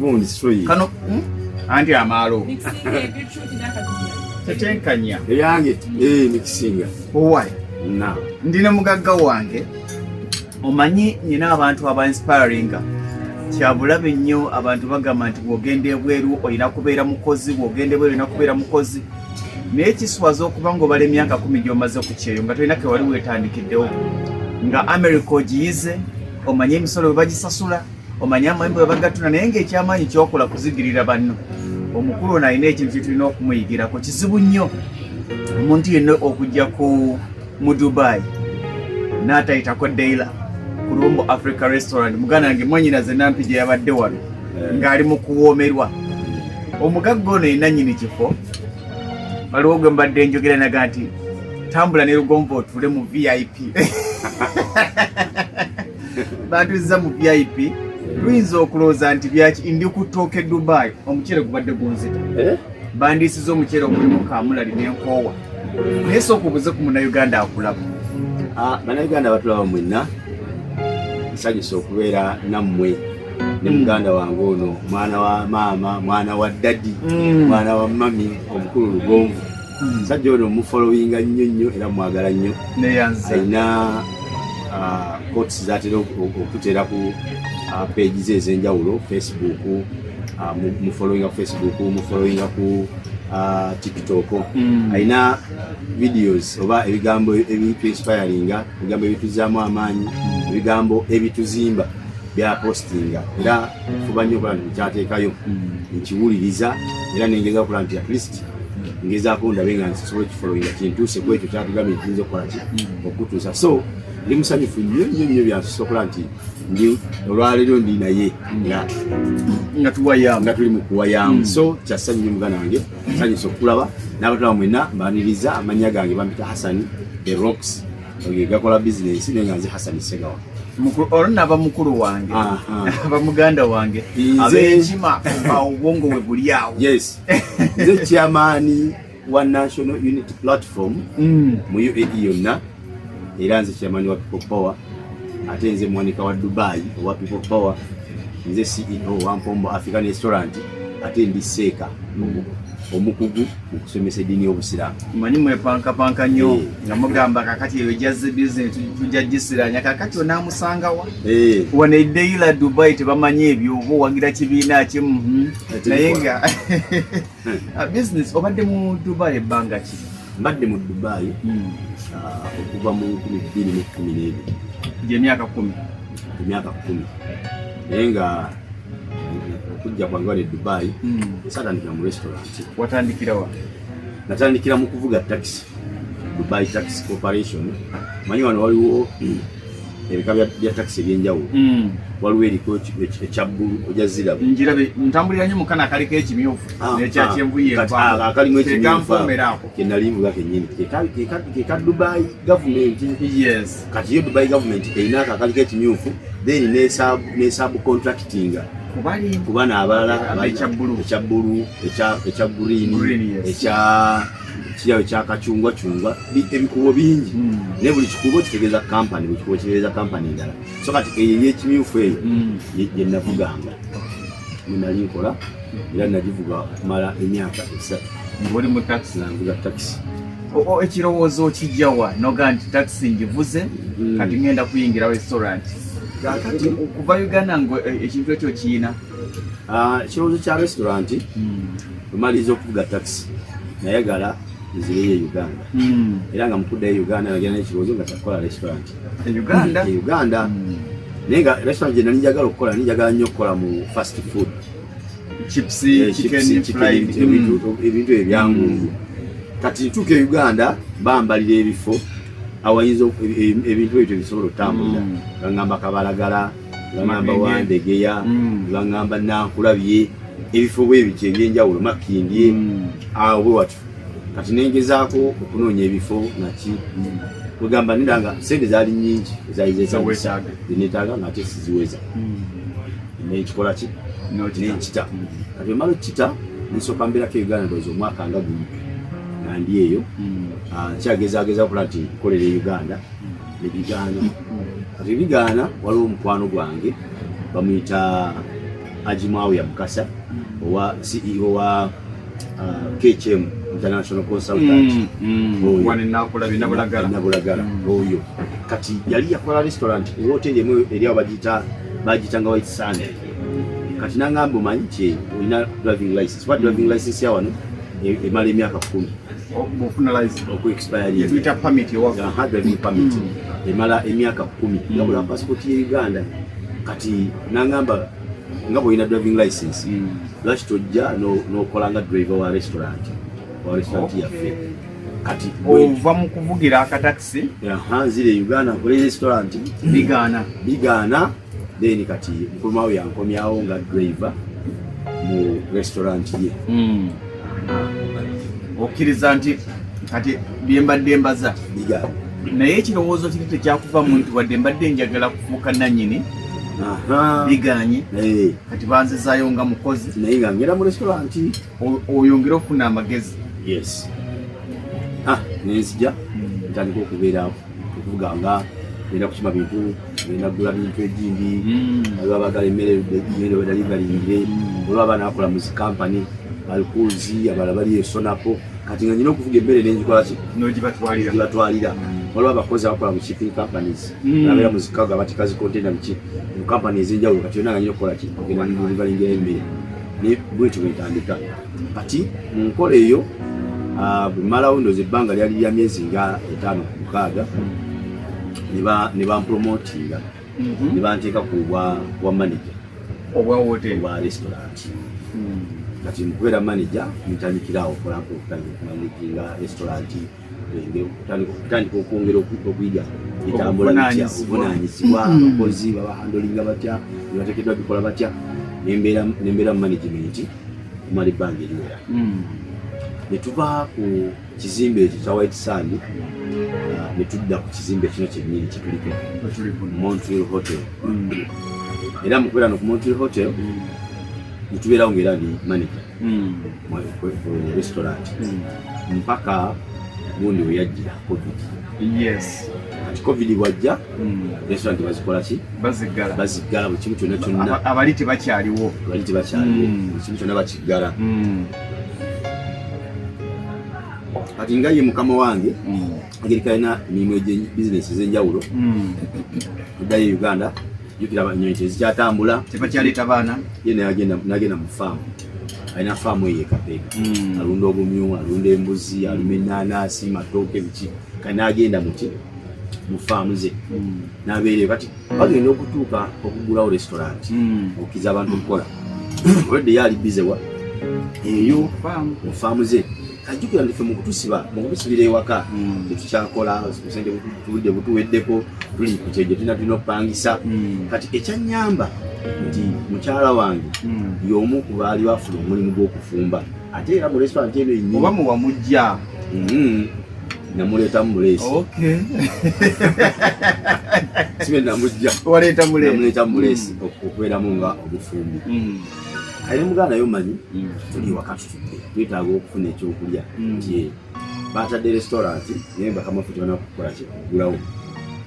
gundi sweet kano hmm? anti amaalo tetenkanya eyange ee eh, nikisinga owai na ndi ne mugagga wange omanyi nyina abantu aba inspiringa kyabulabe nnyo abantu bagamba nti bwogenda ebweru olina kubeera mukozi bwogenda ebweru olina kubeera mukozi naye kiswaza okuba nga obala emyaka kumi gyomaze ku kyeyo nga tolina kewali wetandikiddewo nga america ogiyize omanye emisolo bwe bagisasula omanyi amayumba webagatuna naye ngaekyamaanyi kyokola kuzigirira banno omukulu ono alina ekintu kyetulina okumuyigirako kizibu nnyo omuntu yenna okujja ku mu dubai natayitako daila ku lumbo africa restaurant muganda wange mwanyina zenampi gye yabadde wano eh. ng'ali mu kuwoomerwa omugagga ono yenna nyini kifo waliwo gwe mbadde njogera naga nti tambula ne lugonva otuule mu vip batuzza mu vip luyinza okulooza nti byaki ndi ku tooke dubai omuceere gubadde gunzita eh? bandiisiza omuceere ogulimu kamulali nenkoowa naye sooka obuze ku munauganda akulaba ah, banauganda batulaba mwenna nsanyusa okubeera nammwe ne mm. muganda wange ono mwana wa maama mwana wa dadi mm. mwana wa mami omukulu lugonvu hmm. sajja ono mufolowinga nnyo nnyo era mwagala nnyo alina ah, cots zatera okutera ku ah, page ze ezenjawulo facebook ah, mufolowinga ku facebook mufolowinga ku tiktok hmm. alina videos oba ebigambo ebitu inspiringa ebigambo ebituzaamu amaanyi hmm. ebigambo ebituzimba byapostinga era fuba nnyo okulaba nti kyateekayo nkiwuliriza era nengeza okulaba nti at least ngezaako ndabe nga nsobola ekifolowinga kintuuse ku ekyo kyatugambye nkiinza okukola ki mm. okutuusa so ndi musanyufu nnyo nnyo nnyo byansusa okuba nti ndi olwaleero ndi naye nga tuwayamu nga tuli mu kuwayamu mm. so kyassanyu nnyo muganda wange sanyusa okukulaba n'abataba mwena mbaniriza amannya gange bampita hasani the rocks gakola bizinensi naye nga nze hasani segawa olwo naba mukulu wange aba muganda wange abenkima obwongo we buli awo nze kyamaani wa national unity platform mm. mu uae yonna era nze kyamaani wa people power ate nze muwanika wa dubai owa people power nze ceo wa mpombo african restaurant ate ndi seeka mm. omukugu mu kusomesa eddiini y'obusiraamu manyi mwepankapanka nnyo eh. nga mugamba kakati eyo jazze bizinesi tujja gisiranya kakati onaamusangawa eh. wano edeila dubai tebamanyi ebyo oba owagira kibiina kimu hmm. naye nga ah, business obadde mu Dubai ebbanga ki? Mbadde mu Dubai hmm. ah, okuva mu nkumi bbiri mu kkumi n'ebiri gy'emyaka kkumi emyaka kkumi naye nga okujja kwange wali e Dubai hmm. satandikira mu restaurant. Watandikira wa? Natandikira mu kuvuga taxi Dubai Taxi Corporation. Manyi wano waliwo ebika bya takisi ebyenjawulo hmm. waliwo eriko ekya bbulu oja zirabu njirabe ntambulira nyo mukana akaliko ekimyufu ah, nekya ah. kyenvu yeakalimu ekimyufuaako kenali nvuga kenyini keka dubai gavumenti kati yo dubai gavumenti erinaako akaliko ekimyufu then nesabu contractinga kubana abalala ekya bbulu ekya green ekya kyawe kyakacungwa cungwa ebikubo bingi hmm. naye buli kikubo kitegeeza kampani buli kikubo kitegeeza kampani endala so kati eyo eyekimyufu eyo hmm. gyenavuganga mwenali nkola era nagivuga okumala emyaka esatu nanvuga takisi ekirowoozo kijjawa noga nti takisi ngivuze hmm. kati ngenda kuyingira restaurant kakati okuva uganda nga eh, ekintu ekyo kiyina ah, ekirowoozo kya restaurant Bwemaliza okuvuga takisi nayagala nzireyo e Uganda hmm. era nga mukuddayo e Uganda nagenda nekibuuzo nga kyakukola restaurant e Uganda e Uganda hmm. naye nga restaurant gyena njagala okukola njagala nnyo okukola mu fast food eh, ebintu ebyangungu hmm. kati ntuuka e Uganda bambalira ebifo awayinza e, ebintu ebyo tebisobola otambulira nga ngamba kabalagala bangamba wandegeya mm. bangamba nankulabye ebifo bwebiti ebyenjawulo makindye mm. awo bwe watyo kati nengezaako okunoonya ebifo naki kwegamba mm. nira nga sente zaali nyingi ezaizesaenetaaga nga ate siziweza nekikola ki nenkita kati emala okukita nsooka mbeerako uganda ndoza omwaka nga gumu nandi eyo ah, nkyagezageza okulaba nti nkolera e uganda nebigaana kati ebigaana waliwo omukwano gwange bamuyita ajimawuya mukasa owa ceo wa uh, kcm international consultant mm, mm. nabulagala mm. oyo kati yali yakola restaurant ewoteri emu eri awo bagiyita bagiyitanga white sunday kati nangamba omanyi nti olina driving license Smart driving license ya wano e- emala emyaka kumi okuyita pamit pamit emala emyaka kumi mm. yabula pasipoti ye uganda kati nangamba nga bwolina driving license mm. lwaki tojja nokola nga driver wa restaurant wa restaurant yaffe kati ova mu kuvugira akatakisi nzire uganda nkole restaurant bigaana bigaana then kati mukulumawo yankomyawo nga driver mu restaurant ye hmm. okkiriza nti kati byembadde mbaza naye ekirowoozo kiri tekyakuva mu nti wadde mbadde njagala kufuuka nanyini biganye kati banzizaayo nga mukozi naye nga ngera mu restaurant oyongere okufuna amagezi yes ah nenzija ntandika okubeera okuvuga nga genda kukima bintu genda kugula bintu egindi aliwo hmm. abagala emmere emmere wedali balingire hmm. olwo abaana bakola mu zikampani balikuuzi abala bali esonapo kati nga nyina okuvuga emmere nenjikolaki nogibatwalira hmm. waliwo abakozi abakola mu shipping companies abeera mu zikago abatikazi containa biki mu kampani ezenjawulo kati yona nga nyina okukolaki ogenda balingire emmere ne bwetyo bwetandika kati mu nkola eyo ah, bwemalawo ndoza ebbanga lyali lya myezi nga etaano ku mukaaga ne bampromotinga mhm. ne banteeka ku bwa manaja obwa restaurant hmm. kati mukubeera manaja ntandikirawo okola nkukumanijinga restaurant okutandika okwongera okuyiga etambula bitya obuvunanyizibwa hmm. abakozi babahandolinga batya nebatekedwa bikola batya nembeera mu management okumala ebbanga eriwera hmm. netuva ku kizimbe ekyo kya white sand uh, netudda ku kizimbe kino kyenyini kyetuliko montreal hotel hmm. era mukubeera no ku montreal hotel netubeerawo ngaera ndi manager mm. mu restaurant mm. mpaka gundi weyajjira covid yes kati covid bwajja mm. restaurant bazikola ki baziggala baziggala buli kimu kyonna kyonna abali tebakyaliwo abali tebakyaliwo mm. buli kimu kyonna bakiggala mm. kati nga ye mukama wange mm. agerika alina emirimu eg bizinesi ezenjawulo addayo e uganda jukira enyonyi tezikyatambula tebakyaleeta baana ye nagenda mu faamu alina faamu eyo ekapeeka hmm. alunda obumyu alunda embuzi aluma enanasi matooke biki kati nagenda muki mu faamu ze hmm. nabeereyo kati bagenda okutuuka okugulawo restaurant hmm. okukiza abantu okukola olwedde yaali bizewa eyo mu faamu ze ajjukira ndife mu kutusiba mu kutusibira ewaka hmm. tetukyakola obusente butuludde butuweddeko tuli ku kyejo tulina tulina okupangisa hmm. kati ekyanyamba nti mukyala wange hmm. y'omu ku baali bafuna omulimu gw'okufumba ate era mu restaurant eno enyi oba muwamujja namuleeta mumulesi sibe namujja waleeta mulesi namuleeta mumulesi okubeeramu nga omufumbi ali muganda yo manyi tuli wakati twetaaga okufuna ekyokulya hmm. nti batadde restaurant naye nga kamafuta bana kukola kyekugulawo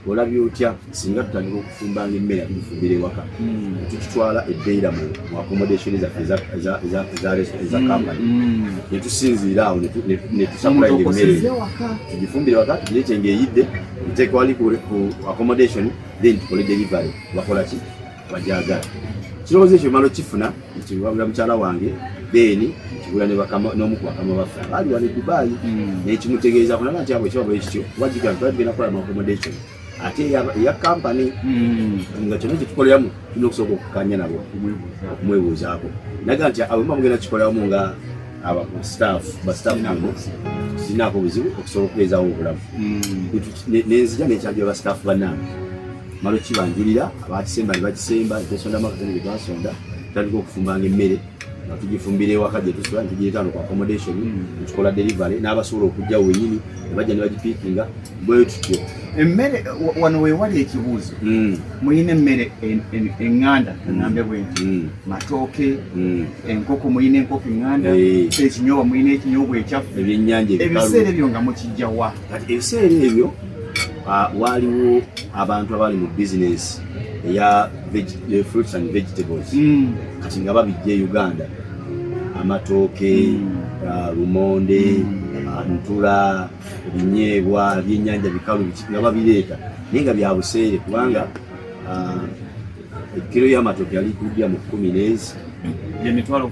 olabye otya singa tutandika okufumbanga emmere tufumbira ewaka hmm. tukitwala ebeira mu accommodation zaffe eza kampani netusinziira awo netusakula emmere tugifumbire waka tugireete ngaeyidde tuteekewali ku accommodation then tukole delivery bakolaki bagyagala kirowoozo ekyo malo kifuna nkiwabula mukyala wange beeni nkigula n'omu ku bakama baffe abaali wano edubaayi hmm. nekimutegeeza kunaba nti abo ekiba bwekityo wajiga nti babadde nakola mu accommodation ate eya kampani hmm. nga kyona kyetukoleramu tulina okusooka okukanya nabo okumwebuuzaako naga nti awemba mugenda kikoleramu nga abastaff bastaff nabo sinaako buzibu okusobola okubeezawo obulamu hmm. nenzija nekyajula bastaff banange malo kibanjulira abakisemba ne bakisemba netwesonda magazini ge twasonda tutandika okufumbanga emmere nga tugifumbira ewaka gye tusula ne tugireeta no ku accommodation nekikola mm. delivery n'abasobola okujja wenyini ne bajja ne bagipiikinga bwe tutyo emmere wano wewali ekibuuzo mm. mulina emmere enganda enambe mm. bwenti matooke enkoko mulina enkoko enganda eh. ekinyoba mulina ekinyoba ekyaffe ebiseera ebyo nga mukijjawa kati ebiseera ebyo ah, waaliwo abantu abaali mu bizinesi eya eh, fruits and vegetables hmm. kati nga babijja e uganda amatooke hmm. ah, lumonde hmm. ah, ntula ebinyeebwa ebyenyanja bikalu nga babireeta naye nga byabuseere kubanga ekiro y'amatooke yali kudya mu kumi nezi emitwalo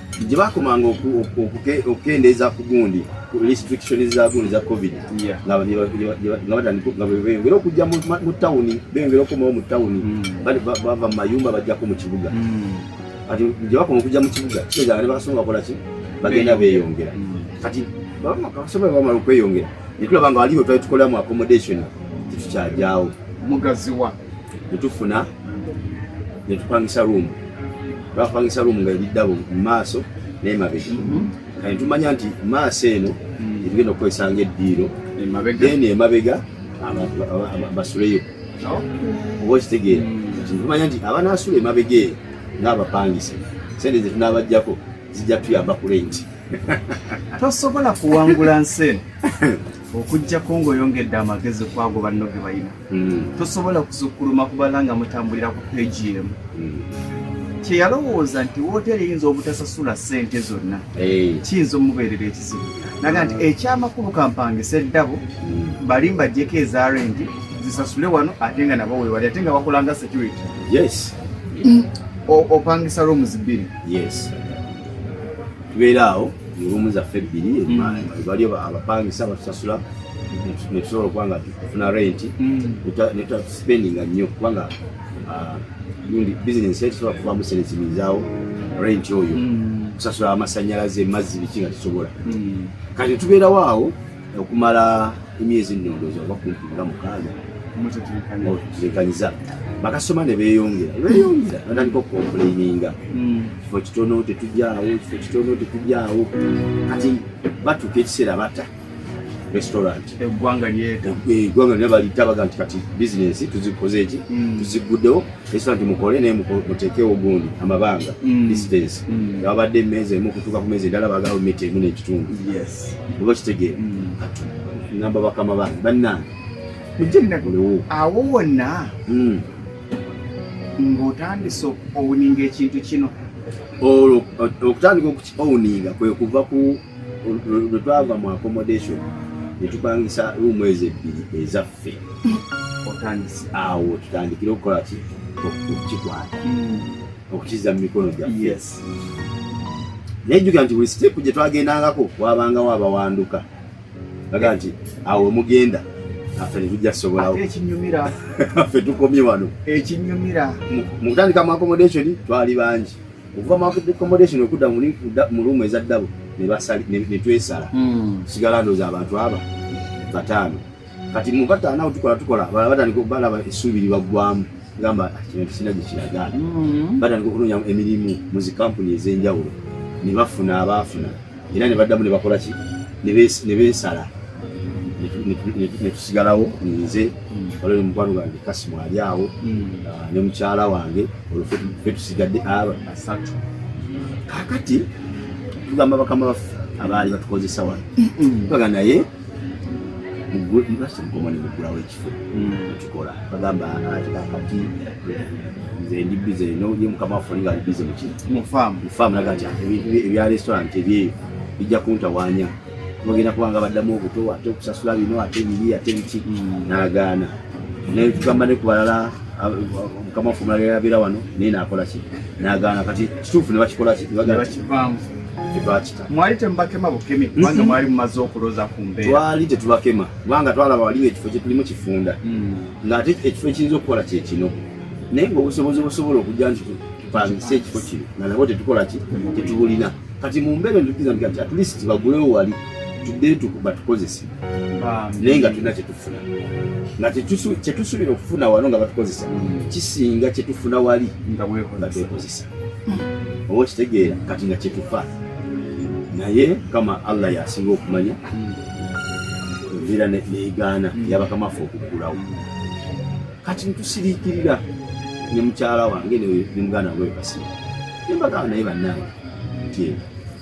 gye bakomanga okukendeeza ku gundi restriction za gundi za covid nga beyongera okujja mu tawuni beyongera okomawo mu tawuni hmm. bava mu mayumba bajjako mu kibuga hmm. kati gye bakoma okujja mu kibuga kitegeeza nga ne bakasoma bakolaki bagenda beyongera hmm. kati bakasoma bamala okweyongera netulaba nga waliwo twali tukolamu accommodation tetukyagyawo mugaziwa netufuna netupangisa room twapangisa room nga ebiddabo mu maaso n'emabega mhm. kati tumanya nti maaso eno mm. etugenda okukozesa nga eddiiro then emabega basuleyo oba okitegeera mm. tumanya nti abanaasula emabega eyo ng'abapangisa sente zetunaabajjako zijja tuyamba ku lenti tosobola kuwangula nsi eno okujjako ng'oyongedde amagezi kwago banno ge balina hmm. tosobola kusukkuluma kubala nga mutambulira ku peegi emu hmm. kyeyalowooza nti wooteeri eyinza obutasasula ssente zonna eh. kiyinza omubeerera ekizibu naga nti ekyamakulu kampangisa eddabo hmm. bali mbajjeko eza rendi zisasule wano ate nga nabo wewali ate nga bakolanga security yes opangisa rooms bbiri yes tubeera awo olumu zaffe ebbiri mm. baliyo abapangisa batusasula netusobola okuba nga tufuna renti mm. netutaspendinga nnyo kubanga ah, gundi bizinesi etusobola kuvamu sente zibizaawo renti oyo mm. kusasula amasanyalaze mazzi biki nga tusobola kati tubeerawo awo okumala emyezi nnondoozi oba kumpi nga mukaaga mutekanyiza bakasoma ne beeyongera beeyongera batandika okukompuleininga hmm. kifo kitono tetujaawo kifo kitono tetujaawo kati batuuka ekiseera bata restaurant eggwanga lyeta eggwanga lyona balita baga nti kati bizinesi tuzikoze eki hmm. tuziggudewo restaurant mukole naye muteekewo gundi amabanga hmm. distance ababadde emeeza emu okutuuka ku meeza endala bagala mita emu n'ekitundu oba kitegeera namba bakama bange bannange mujjanagulewo awo wonna hmm. ng'otandise owuninga ekintu kino olwo okutandika okukiowuninga kwe kuva ku lwe twava mu accommodation ne tupangisa ruumu ezo ebbiri ezaffe otandise awo tutandikire okukola ki okukikwata hmm. okukiza mu mikono gyaffe naye jjukira nti buli siteepu gye twagendangako wabangawo abawanduka aga nti awo mugenda affe netujja kusobolawo ekinyumira affe tukomye wano ekinyumira mu kutandika mu accommodation twali bangi okuva mu accommodation okudda mu luumu eza ddabo ne twesala hmm. sigala ndooza abantu aba bataano kati mubata nawe tukola tukola batandika balaba essuubi libaggwamu gamba ah, kino kisina gye kiragaana mm-hmm. batandika okunoonya emirimu mu zikampuni ez'enjawulo ne bafuna abaafuna era ne baddamu ne bakola ki ne beesala ne tusigalawo nze mm. olwali mukwano gwange kasimu ali awo mm. ah, ne mukyala wange olwo fe tusigadde aba asatu kakati tugamba bakama baffe abaali batukozesa wano baga naye mugulasi mukomani mugulawo ekifo ekikola hmm. bagamba kati nze ndi bize noye mukama waffe olinga ali bize muki mufaamu naga nti ebya restaurant ebyeyo bijja kuntawanya bagenda kubanga baddamu obuto ate okusasula bino ate biri ate biki hmm. nagaana naye tugamba ne kubalala mukama waffe omulala yabeera wano naye nakola ki nagaana kati kituufu ne bakikola ki mwali temubakema bukemi kubanga mhm. mwali mumaze okuloza ku mbeera twali tetubakema kubanga twalaba wali ngaekifo kyetulimu kifunda mm. ngaate ekifo ekiyinza okukola kyekino naye ngaobusobozi obusobola okujja nti tupangise ekifo kino nga nabo tetukola ki tetubulina kati mu mbeera entukiza nti kati atleast bagulewo wali tudde batukozese naye nga tulina kyetufuna nga kyetusuubira okufuna wano nga batukozesa mm. kisinga kyetufuna wali nga twekozesa oba okitegeera kati nga kyetufa naye kama allah yasinga okumanya enviira neyigaana hmm. yabakamafe okuggulawo kati ntusiriikirira ne mukyala wange ne muganda wange wekasira nembagaba naye bannange nti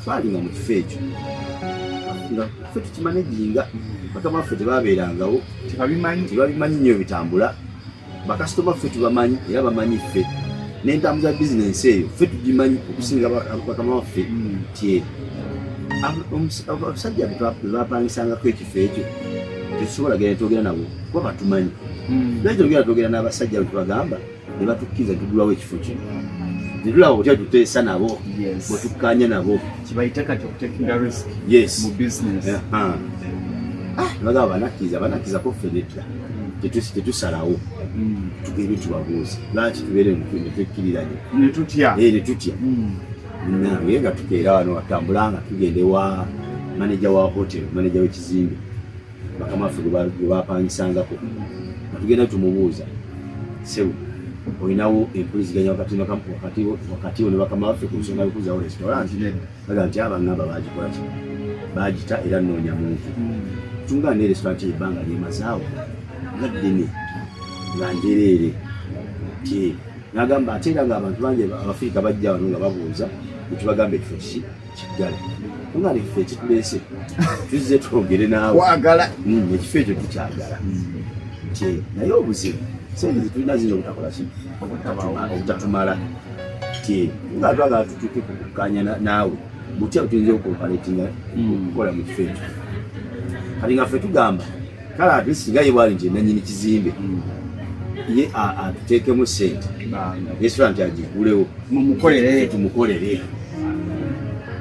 twali nga mu kifo ekyo nga fe tukimanejinga bakama ffe tebabeerangawo tebabimanyi nyo bitambula bakasitoma ffe tubamanyi era bamanyi ffe n'entambuza bizinensi eyo ffe tugimanyi okusinga bakama waffe nti abasajja bebapangisangako ekifo ekyo tetusobola genda twogera nabo kuba batumanyi hmm. naye togera twogera n'abasajja betubagamba ne batukkiriza tugulawo ekifo kino netulaba otya tuteesa nabo bwetukkanya nabo yes bagamba banakkiriza banakkiriza koffe nedda tetusalawo mm. tugende tubabuuze lwaki tubeere netwekkiriranye netutya eh, mm. nange nga tukeera wano watambula nga tugenda ewa maneja wa hotel maneja wekizimbe bakama ffe gwebapangisangako nga tugenda tumubuuza sebu olinawo empuliziganya wakati wo ne bakama baffe ku nsonga yokuzawo restaurant baga nti abangamba bagikolaki bagita era noonya muntu tunga ne restaurant ebbanga lyemazaawo nga ddene nga njereere ti nagamba ate era nga abantu bangi abafirika bajja wano nga babuuza nekibagamba ekifo kiki kiggala tunga nekifo ekituleese tuzze twogere naawe hmm, ekifo ekyo tukyagala hmm. naye obuzibu sente zitulina zino obutakola ki obutatumala nga twagala tutuuke ku kukkaanya naawe butya butuyinza okukompaletinga hmm. okukola mu kifo ekyo kati nga ffe tugamba kale ate singa ye bwali nti nanyini kizimbe hmm. ye atuteekemu sente yesula nti agigulewo tumukolere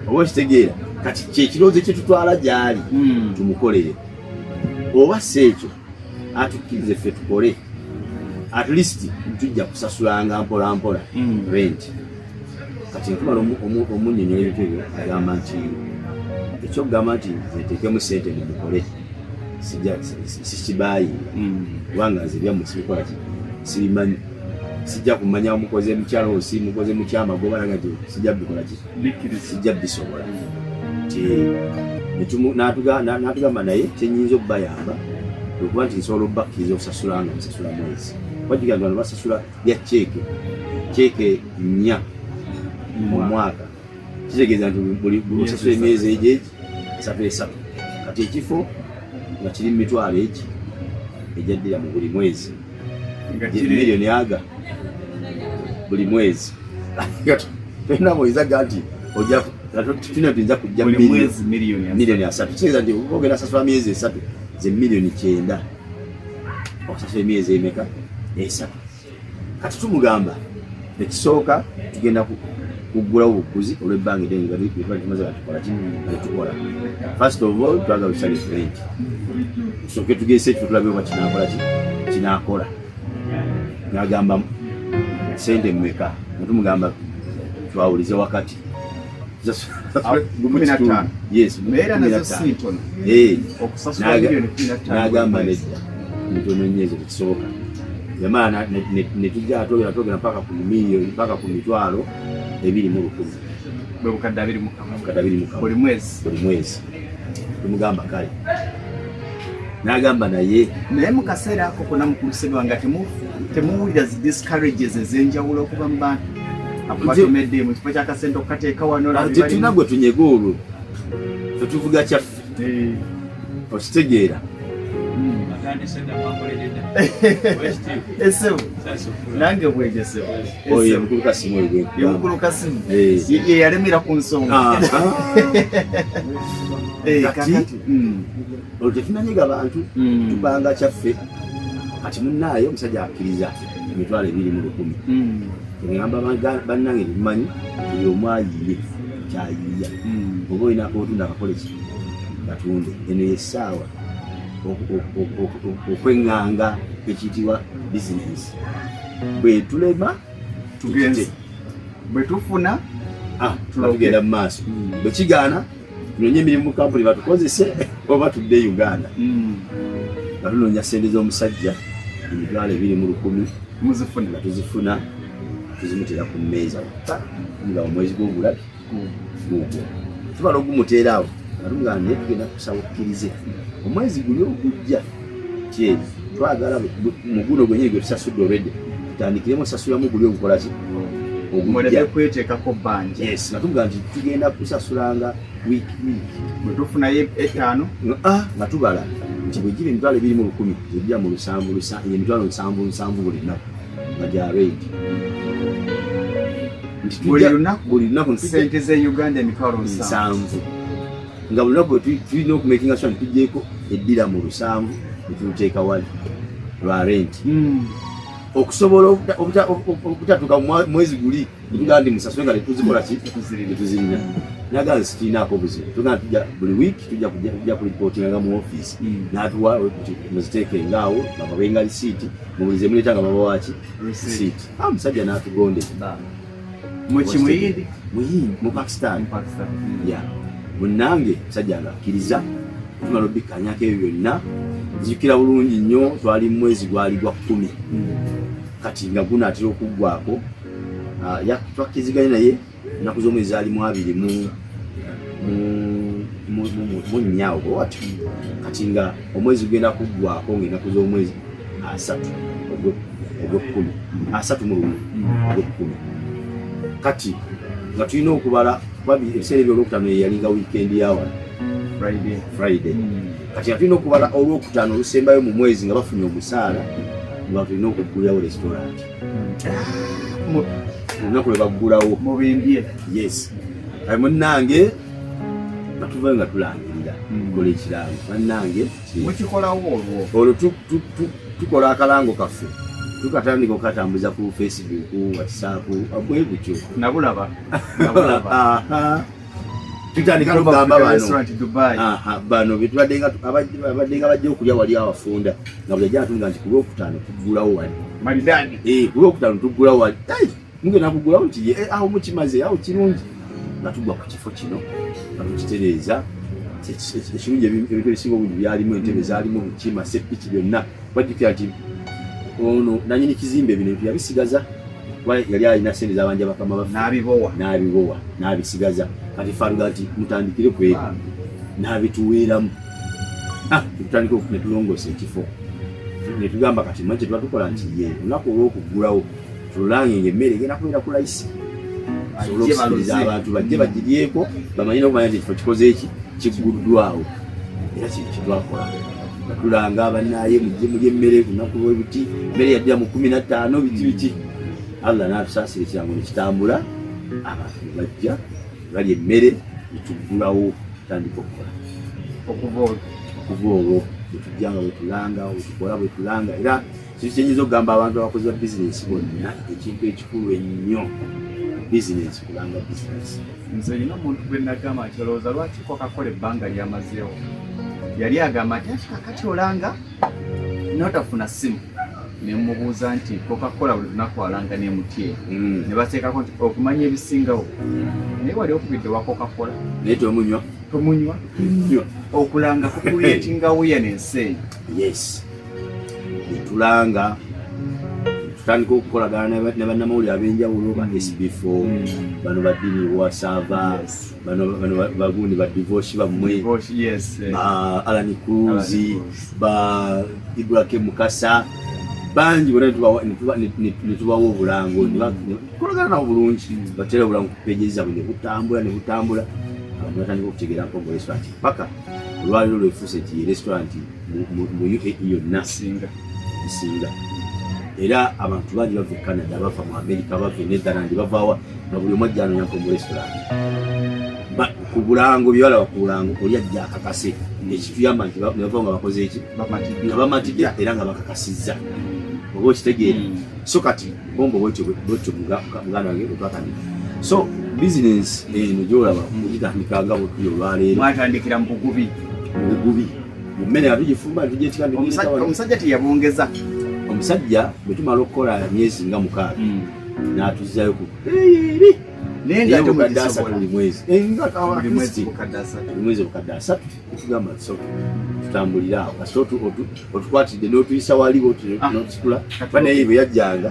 oba okitegeera kati kyekirowoozo kyetutwala gyali hmm. tumukolere oba si ekyo atukkirize ffe tukole at least tujja kusasulanga mpola mpola mm. rent kati nkumala omunyonyola ebintu ebyo agamba nti ekyokugamba nti etekemu sente mumukole sikibayi mm. kubanga nze byamu sibikola ki sibimanyi sijja kumanya omukoze mukyalo osi mukoze mukyama gobalaga ti sijja bikola ki sijja bisobola nti n'atugamba naye kyenyinza okubayamba okuba nti nsobola okubakkiriza okusasula nga nsasula mwezi wajuga nti bano basasula ya ceeke ceeke nnya mu mwaka kitegeeza nti buli osasula emyezi egyo egi esatu esatu kati ekifo nga kiri mu mitwalo egi ejaddira mu buli mwezi miliyoni aga buli mwezi tolina mwezi aga nti oja tulina nti nja kujja miliyoni asatu kitegeeza nti ogenda asasula myezi esatu ze miliyoni kyenda okusasula emyezi emeka esatu kati tumugamba Ekisooka tugenda kuggulawo obuguzi olw'ebbanga eddene tumaze batukola kitukola first of all twagala tusale rent tusooke tugese ekifo tulabe oba kinakola ki kinakola nagamba sente mmeka nga tumugamba twawulize wakati n'agamba nedda ntononyezo tekisoboka yamala netujja atogera togera mpaka ku milioni mpaka ku mitwalo ebiri mu lukumi bukadde abiri mu kamu buli mwezi tumugamba kale nagamba naye naye mukaseera ako kona mukulusebwa nga temuwulira zi discourages ezenjawulo okuva mu bantu akubatomedde mu kifo kyakasente okukateeka wanotetulina gwe tunyega olwo tetuvuga kyaffe eh. okitegeera hmm. esebo nange bwegesebo yeyalemera ku nsonga ah, ah. eh, hmm. olwo tetunanyiga bantu hmm. tubanga kyaffe kati munaaye omusajja akkiriza emitwalo ebiri mu lukumi egamba hmm. bannange tetumanyi buli omu ayiye kyayiya oba olina akotunda akakola ki katunde eno yesaawa okweŋŋanga ekiyitibwa bizinensi bwetulema tugenze bwetufuna ah, tugenda mumaaso hmm. bwekigaana tunonye emirimu mukampuni batukozese oba tudde e uganda hmm. nga tunonya sente z'omusajja emitwalo ebiri mu lukumi nga tuzifuna tuzimutera ku mmeeza nga omwezi gw'obulabi tubala ogumuteera awo naluga naye tugenda kusaba okkirize omwezi guli ogujja kyeri twagala muguno gwenyini gwe tusasudde olwedde tutandikiremu osasulamu guli ogukolaki kwetekako banja yes natuga nti tugenda kusasulanga week week bwetufunayo etaano ah, nga tubala nti bwegira emitwalo ebiri mu lukumi ebija mu lusanvu emitwalo nsanvu nsanvu buli nnaku nga gya redi buli lunaku nsente ze uganda emitwalo nsanvu nga buli lunaku tulina okumakinga sure tugyeko eddira mu lusanvu netuluteeka wali lwa renti hmm. okusobola okutatuka mwezi guli tugaa ndi musasule nga netuzikola ki netuzirina nagaa zikirinaako obuzibu tugaa tuja buli wiiki tuja kulipotinga nga mu ofiisi hmm. natuwa muziteeke ngaawo nababenga lisiiti mubulize muleta nga baba waki receipt ah musajja natugonde muki muyindi muyindi mu Pakistan Pakistan ya munange musajja nga kiriza tumala obikanyako ebyo byonna nzijukira bulungi nnyo twali mu mwezi gwali gwa kkumi kati nga gunaatera okuggwako ah, twakkiziganye naye ennaku z'omwezi zaali mu abiri mu munnya ogwo watyo kati nga omwezi gugenda kuggwako ng'ennaku z'omwezi asatu ogw'ekkumi asatu mu lumu ogw'ekkumi kati nga tulina okubala kuba ebiseera ebyolwokutano yeyalinga wiikendi yawala friday hmm. kati nga tulina okubala olwokutaano olusembayo mu mwezi nga bafunye omusaala nga tulina okuggulirawo restaurant olunaku lwe baggulawo mubimbye yes ayi munnange batuvayo nga tulangirira hmm. kola ekirango bannange mukikolawo olwo olwo tukola akalango kaffe tukatandika okukatambuza ku facebook whatsapp bwe gutyo nabulaba nabulaba tutandika kugamba bano betubaddenga bajja okulya wali awafunda nga bwejja atunga nti kulwokutaano tuggulawo wali eh, kulwokutaano tuggulawo wali mugenda kugulawo nti eh, awo mukimaze awo kirungi nga tugwa ku kifo kino nga tukitereeza ekirungi ebintu ebisinga obungi byalimu entebe zalimu kima sepiki byonna bajjukira nti ono nanyini kizimbe bino ebintu yabisigaza kuba yali alina sente zabanja bakama baffe n'abibowa n'abibowa n'abisigaza kati faluga nti mutandikire ku ebyo ah. n'abituweeramu ah, tutandika ne tulongoosa ekifo ne tugamba kati mwe kyetuba tukola nti ye olunaku olw'okuggulawo tululange nga emmere egenda kubeera ku layisi asobole okusikiriza abantu bajje bagiryeko bamanye n'okumanya nti ekifo kikoze eki kigguddwawo era kintu kyetwakola tulanga abanaye mujje mulye emmere lunaku lwebuti emmere yaddira mu kumi na ttaano biki biki allah n'atusaasira ekirango nekitambula abantu bajja bali emmere netuggulawo tandika okukola okuva olwo bwetujjanga bwetulanga bwetukola bwetulanga era Kiki kyenyinza okugamba abantu abakozi ba bizinensi bonna ekintu ekikulu ennyo bizinensi kubanga bizinensi. Nze nina omuntu gwe nagamba nti olowooza lwaki kwakakola ebbanga lyamazeewo yali agamba nti ati kakati olanga notafuna simu nemubuuza nti kokakola buli lunaku alanga nemutye hmm. nebateekako nti okumanya ebisingawo naye wali okubidde wakokakola naye tomunywa tomunywa okulanga kukuleetinga wuya nensi eyo yes netulanga tutandika okukolagana ne bannamawulire ab'enjawulo ba sb4 mm. bano baddini wasava bano bagundi ba divosi bammwe eh. ba alani cruzi ba ibrahim mukasa bangi bona netubawa obulango kolagana nawo bulungi batera obulango kupeje zabwe nebutambula nebutambula abantu batandika okutegeera mpogo restaurant paka olwaliro lwefuuse ti restaurant mu UAE yonna singa nsinga era abantu bangi bava e Canada bava mu America bava e Netherland bavawa nga buli omu ajja anonyako mu restaurant ku bulango byewalaba ku bulango oli ajja akakase ekituyamba nti nebava nga bakoze eki nga bamatidde era nga bakakasizza oba okitegeere hmm. so kati Bombo bwetyo bwetyo muganda wange bwetwatandika so bizinensi eno gyolaba mugitandika nga bwetuyo olwaleero mwatandikira mu bugubi mu bugubi mu mmere nga tugifumba tugyetika omusajja teyabongeza omusajja bwe tumala okukola myezi nga mukaaga hmm. n'atuzzayo ku eri naye nga ate mukadde asatu buli mwezi eh, nga kawa buli mwezi bukadde asatu Ekigamba kisoke tutambulira awo kasita otukwatidde n'otuyisa wali ah. n'otusitula kuba naye bwe yajjanga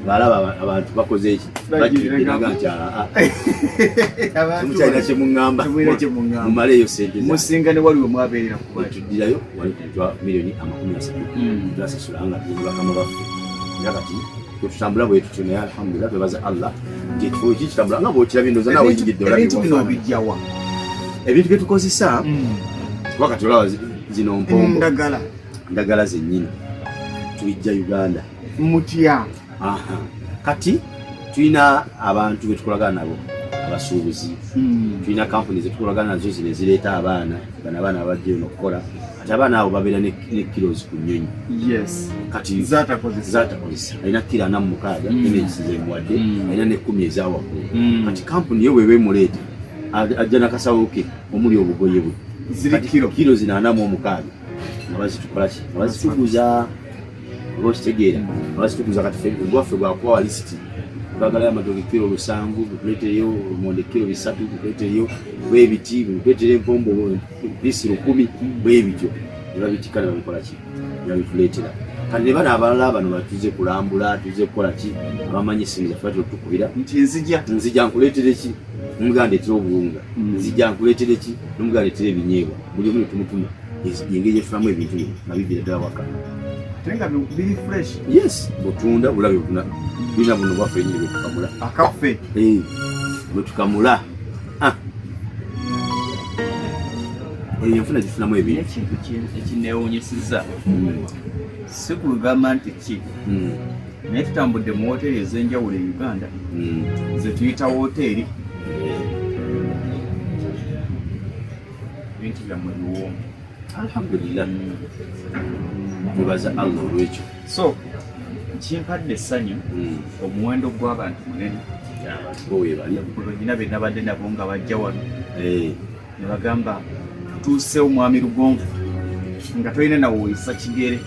ng'alaba abantu bakoze eki bakiraga nti ah, ah. mukyalina kye muŋŋamba mumaleeyo sente musinga ne waliwo mwabeerera tuddirayo wali kutwa miliyoni amakumi asatu hmm. twasasula nga tuli bakama baffe era kati bwetutambula bwetutyo naye alhamdulillah twebaza allah nti ekifo eki kitambula nga bwokirabye ndoza nawe oyingidde ebintu bino obijjawa ebintu byetukozesa mm. kuba kati olaba zino mpombo ndagala ndagala zenyini tubijja uganda mutya kati tulina abantu betukolagana nabo abasuubuzi mm. tulina kampuni zetukolagana nazo zino ezireeta abaana bana abaana abajja eno okukola kati abaana abo babeera ne kilos ku nyonyi kati zatakozesa alina kiro ana mumukaaga mm. enegisi zemuwadde mm. alina nekumi ezawaggulu mm. kati kampuni ye weba emuleeta ajja nakasawo ke omuli obugoye bwe kiro zino ana mu omukaaga nga bazitukolaki nga bazituguza oba okitegeera nga bazituguza kati ogwaffe gwakubawa lisiti bagala amatoke kiro lusanvu bukuleteyo omonde kiro bisatu bukuleteyo oba ebiti bukuleteyo empombo bisiro kumi bwebityo nebabitika nebabikolaki nebabituleetera kati nebano abalala bano batuze kulambula tuze kukola ki abamanyi esimu zaffe batera okutukubira nti nzija nzija nkuleetere ki nomuganda ndetera obuwunga mm. nzija nkuleetere ki nomuganda ndetera ebinyeebwa buli omu netumutuma engeri efulamu ebintu bino nga bivira ddala waka yes butunda bulabe buna bina buno bwaffe nyini bwetukamula akaffe eh, bwetukamula Ah. Eyo enfuna gifunamu ebintu. Ekintu ekinneewuunyisizza hmm. si ku lugamba nti ki hmm. naye tutambudde mu wooteeri ez'enjawulo e Uganda hmm. ze tuyita wooteeri ebintu byammwe biwoomu alhamdulillah tubaza allah olwekyo so kimpadde essanyu hmm. omuwendo gw'abantu munene olina be nabadde nabo nga bajja wano eh. ne bagamba tuuse omwami lugonvu nga tolina nawoyisa kigere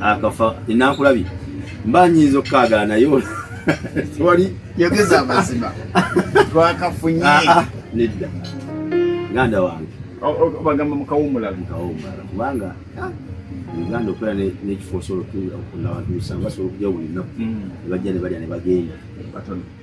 akafa enankulabye mba nyinza okukaagala naye wali yogeza amazima twakafunye ah, ah, nedda muganda wange bagamba mukawumula mukawumula kubanga ah, uganda okola nekifo osobola okunabantu musanvu basobola okuja buli nnaku nebajja mm. nebalya nebagenda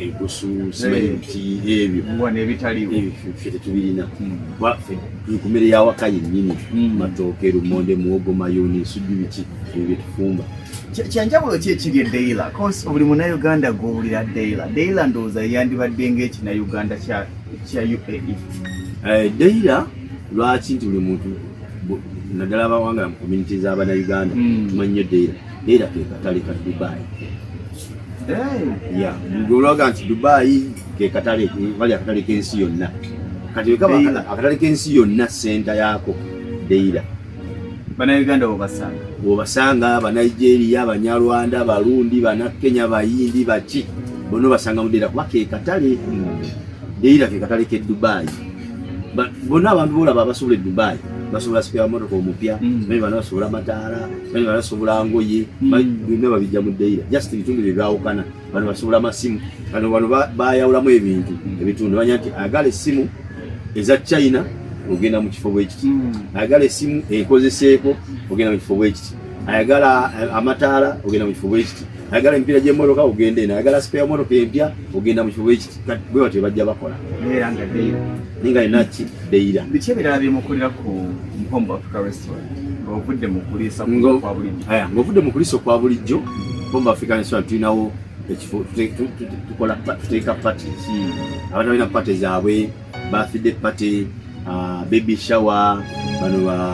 enkusu simanyi eh. ki ebyo ebitaliwo ffe tetubirina hmm. ffe tuli ku mmere y'awaka yennyini hmm. matooke lumonde muwogo mayuuni nsujju biki ebyo bye tufumba kyanjawulo ki ekiri e daila cause buli munauganda gwowulira daila daila ndowooza yandibadde ngaekinauganda kya uae eh, daila lwaki nti buli muntu naddala abawangala mu community z'abanauganda hmm. tumanyi nyo daila era ke katale ka Dubai olwaga nti Dubai ke katale bali akatale k'ensi yonna kati wekaba akatale k'ensi yonna senta yaako deira banauganda wobasanga wobasanga banigeria banyarwanda barundi banakenya bayindi baki bona obasanga mudeira kuba ke katale deira ke katale ke Dubai bona abantu bolaba abasobola e Dubai basobola sipya motoka omupya mm. naye bana basobola mataala bano basobola ngoye hmm. byonna babijja mu dayira just ebitundu bye byawukana bano basobola amasimu bano bano bayawulamu ebintu hmm. ebitundu banya nti agala essimu eza china ogenda mu kifo bwekiti hmm. ayagala essimu ekozeseeko ogenda mu kifo bwekiti ayagala eh, amataala ogenda mu kifo bwekiti ayagala emipiira gy'emmotoka ogenda eno ayagala sipeya motoka empya ogenda mu kifo bwekiti bwe batyo bajja bakola ninga enaki dayira biki ebirala byemukolera ku mpombo africa ng'ovudde mu kuliisa okwa bulijjo bomba african restaurant tulinawo ekifo tukola tuteeka pati hmm. abantu balina pati zaabwe bafidde pati ah, baby shower bano ba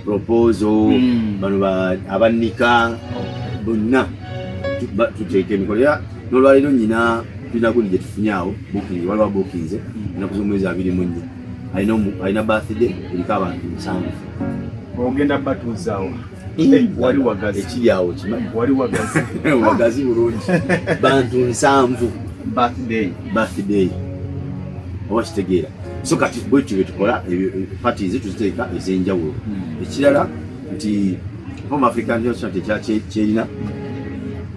proposal hmm. bano abannika bonna tuteeka emikolo era nolwaleero nyina tulina gundi gyetufunye awo bukingi waliwo bukinze enaku z'omwezi abiri mu nnya alina alina birthday eriko abantu musanvu ogenda batuuzaawo eh, wali wagazi ekiri awo kimanyi wali wagazi wagazi bulungi bantu nsanvu birthday birthday oba kitegeera so kati bwekyo byetukola parties tuziteeka ez'enjawulo hmm. ekirala nti home african restaurant ekyakyerina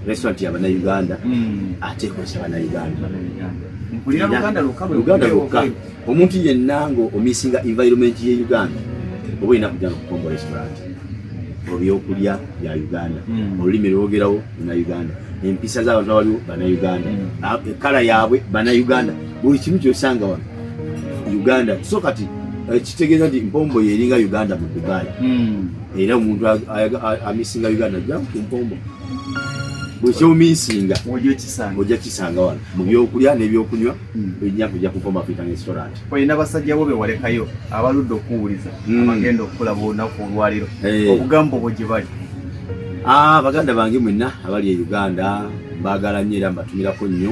restaurant ya banauganda hmm. ate ekozesa banauganda uganda lukka omuntu yenna nga omisinga environment ye Uganda oba olina kujja nokukomba restaurant ebyokulya bya Uganda hmm. olulimi lwogerawo na Uganda empisa z'abantu abaliwo bana Uganda hmm. ekala yaabwe bana Uganda buli kimu kyosanga wano Uganda so kati eh, kitegeeza nti mpombo yeringa Uganda mu Dubai hmm. era omuntu amisinga Uganda ajja ku mpombo buli kyomisinga ojja kisanga wano mu byokulya n'ebyokunywa enyavu ojja kukoma fita restaurant olina basajja bo bewalekayo abaludde okuwuliza hmm. abagenda okukulaba olunaku olwaliro eh. obugambo bwo gye bali ah, baganda bange mwenna abali e uganda mbaagala nnyo era mbatumirako nnyo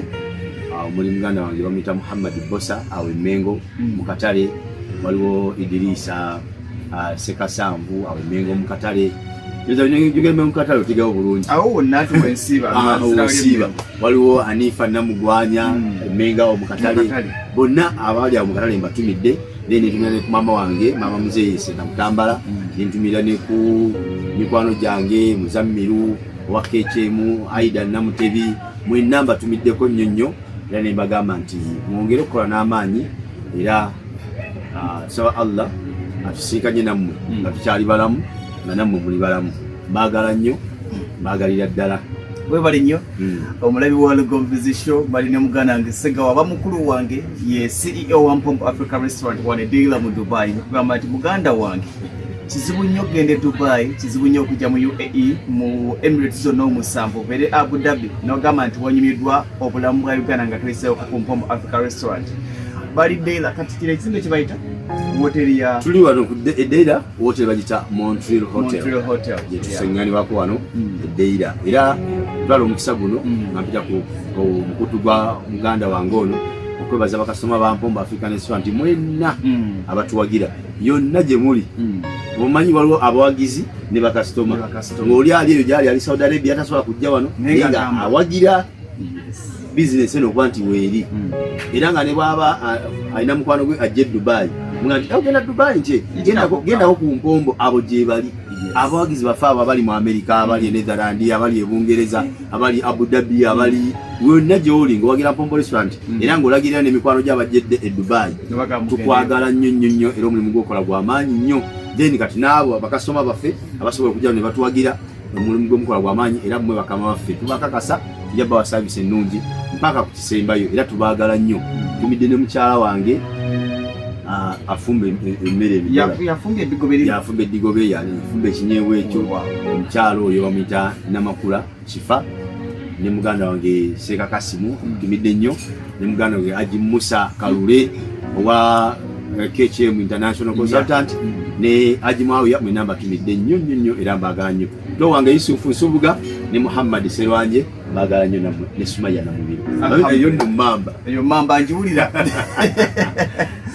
ah, omuli muganda wange bamuyita muhammad bosa awo emengo hmm. mu katale waliwo idiriisa ah, sekasanvu awo emengo mukatale mukatale otegawo bulungi awo wonna tuwensiiba ah, waliwo anifa namugwanya hmm. emengo awo mukatale bonna abaali awo mukatale mbatumidde then netumira ne ku maama wange maama muzeeyi senamutambala hmm. nentumira ne ku mikwano gyange muzammiru owa kekyemu aida namutebi mwenna mbatumiddeko nnyo nnyo era ne mbagamba nti mwongere okukola n'amaanyi era nsaba ah, allah atusinkanye nammwe hmm. nga tukyali balamu nga nammwe muli balamu mbaagala nnyo mbaagalira ddala webale nnyo hmm. omulabi wa lugombizi show bali ne muganda wange segawa aba mukulu wange ye ceo wa mpompo africa restaurant wane deila mu dubai nekugamba nti muganda wange kizibu nnyo okugenda e dubai kizibu nnyo okujja mu uae mu emirates zonna omusanvu obeere abu dhabi nogamba nti wanyumidwa obulamu bwa uganda nga tweseewo ku mpompo africa restaurant bali Deira kati kile ekizimbe kye bayita woteri ya tuli wano ku Deira woteri bagita Montreal Hotel Montreal Hotel ye tusengani wako wano mm. Deira era balo omukisa guno mm. nampita ku mukutu gwa muganda wange ono okwebaza bakasoma ba mpombo African Restaurant nti mwenna mm. abatuwagira yonna gye muli mm. omanyi waliwo abawagizi ne bakasitoma ng'oli ali eyo gyali ali Saudi Arabia tasobola kujja wano nga awagira bizinesi eno okuba nti weeri hmm. era nga ne bwaba alina mukwano gwe ajja e dubayi nga nti ogenda dubayi nje gendako ku mpombo abo gyebali abawagizi bafe abo abali mu amerika abali e hmm. netherland abali e bungereza abali abu dhabi abali wonna gyoli nga owagira mpombo restaurant hmm. era ngaolagirira nemikwano gyo abajjedde e dubayi tukwagala nnyo nnyo nnyo era omulimu gwokola gwamaanyi nnyo then kati naabo bakasitoma baffe abasobola okujjao ne batuwagira omulimu gwe mukola gwa maanyi era mmwe bakama baffe tubakakasa tujja bawa saavisi ennungi mpaka ku kisembayo era tubaagala nnyo tumidde ne mukyala wange ah, afumba emmere yafumba eddigobe yani yafumba ekinyeebwa ekyo oh, omukyala oyo bamuyita namakula kifa ne muganda wange seeka kasimu hmm. tumidde nnyo ne muganda we aji musa kalule owa eh, kcm international consultant ne aji mwawiya mwena mbatumidde nnyo nnyo nnyo era mbagala nnyo to wange yusufu nsubuga ne muhammadi serwanje mbagala nnyo namwe ne sumaya namubiri eyo nno mamba eyo mamba njiwulira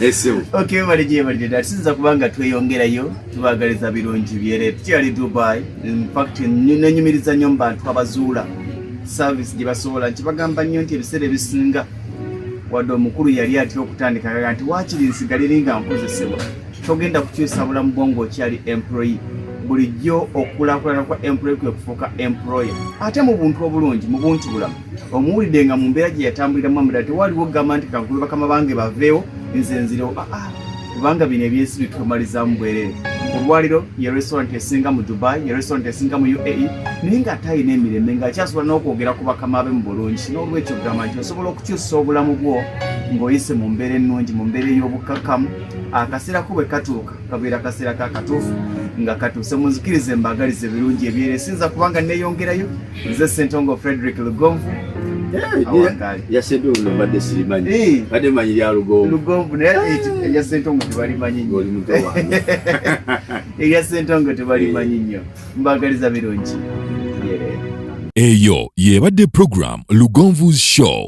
esebo okay, webale gyebalire dati sinza kubanga tweyongerayo tubagaliza birungi byere tukyali dubai infact nenyumiriza nnyo mu bantu abazuula service gye basobola nti bagamba nnyo nti ebiseera ebisinga wadde omukulu yali atera okutandika kaga nti waakiri nsigalire nga nkozesebwa togenda kukyusa bulamu bwo ngaokyali employe bulijjo okulakulana kwa employe kwe kufuuka employe ate mu buntu obulungi mu buntu bulamu omuwulidde nga mu mbeera gye yatambuliramu amudala tewaliwo okugamba nti kankube bakama bange baveewo nze nzirewo ah, ah. kubanga bino ebyensi bitumalizamu bwerere olwaliro ye restaurant esinga mu dubai ye restaurant esinga mu uae naye nga ate alina emirembe nga akyasobola n'okwogera ku bakama be mu bulungi n'olwekyo ogamba nti osobola okukyusa obulamu bwo ng'oyise mu mbeera ennungi mu mbeera ey'obukkakkamu akaseera ko bwe katuuka kabeera akaseera ka katuufu nga katuuse munzikirize mbaagaliza ebirungi ebyere sinza kubanga neeyongerayo nze sentongo frederick lugonvu yasentongo nobadde sirimanyi badde manyi lya lugonvu erya sentongo tebalimanyi nyo erya sentongo tebalimanyi nyo mbagaliza birungi eyo yebadde program lugonvu's show